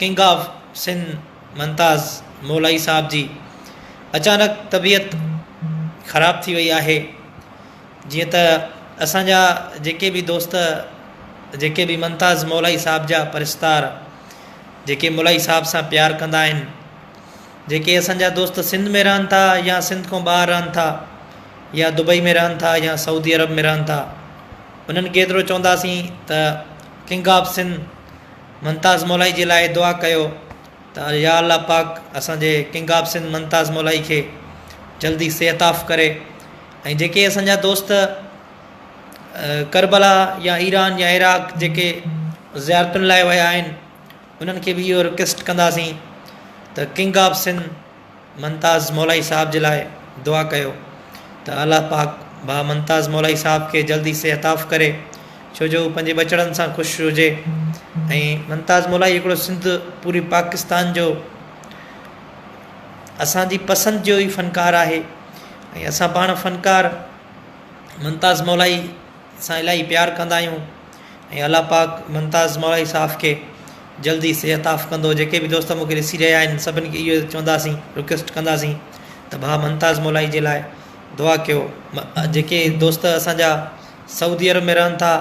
king of Sindh Mumtaz Molai صاحب جي اچانڪ طبيعت خراب ٿي وئي آهي جيئن ته اسانجا جيڪي به دوست جيڪي به ممتاز مولائي صاحب جا پرستار جيڪي مولائي صاحب سان پيار ڪندا آهن جيڪي اسانجا دوست سنڌ ۾ رهن ٿا يا سنڌ کان ٻاهر رهن ٿا يا دبئي ۾ رهن ٿا يا سعودي عرب ۾ رهن ٿا انهن کي ايترو چونداسين ته ڪنگ آف سنڌ ممتاز مولائي جي لاء دعا ڪيو ته يا الله پاڪ اسان جي ڪنگ آف سنڌ ممتاز مولائي کي جلدي صحتعاف ڪري ۽ جيڪي اسان جا دوست ڪربلا يا ايران يا عراق جيڪي زيارتن لاء ويا آهن انهن کي به اهو رڪويسٽ ڪنداسين ته ڪنگ آف سنڌ ممتاز مولائي صاحب جي لاء دعا ڪيو ته الله پاڪ ڀا ممتاز مولائي صاحب کي جلدي صحت عطا ڪري ڇو جو هو پنهنجي ٻچڙن سان خوش هجي ۽ ممتاز مولائي هڪڙو سنڌ پوري پاڪستان جو اسان جي پسند جو ئي فنڪار آهي ۽ اسان پاڻ فنڪار ممتاز مولائي سان الاهي پيار ڪندا آهيون ۽ الله پاڪ ممتاز مولائي صاحب کي جلدي صحت عاف ڪندو جيڪي به دوست مونکي ڏسي رهيا آهن سڀني کي اهو چونداسين رڪويسٽ ڪنداسين ته ڀاء ممتاز مولائي جي لاء دعا ڪيو جيڪي دوست اسانجا سعودي عرب ۾ رهن ٿا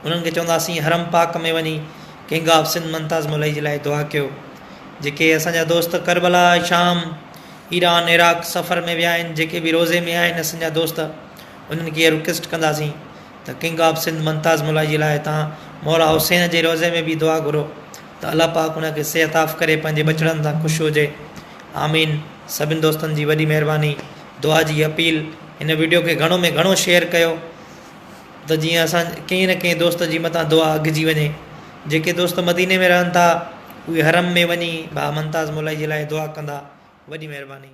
انهن کي چونداسين حرم پاڪ ۾ وڃي ڪنگ آف سنڌ ممتاز مولائي جي لاء دعا ڪيو جيڪي اسانجا دوست ڪربلا شام ايران عراق سفر ۾ ويا آهن جيڪي به روزي ۾ آهن اسانجا دوست انهن کي اهي رڪويسٽ ڪنداسين ته ڪنگ آف سنڌ ممتاز ملائي جي لاء تان مولا حسين جي روضي ۾ بيھي دعا گھرو ته الله پاڪ ان کي صحت عاف ڪري پنھنجي ٻچڙن سان خوش ھجي آمين سڀن دوستن جي وڏي مھرباني دعا جي اپيل ھن وڊيو کي گھڻو ۾ گھڻو شيئر ڪيو ته جيئن اسان ڪنھن نه ڪنھن دوست جي مٿان دعا اگھجي وڃي جيڪي دوست مديني ۾ رھن ٿا اھي حرم ۾ وڃي ڀاء ممتاز ملائي جي لاء دعا ڪندا وڏي مھرباني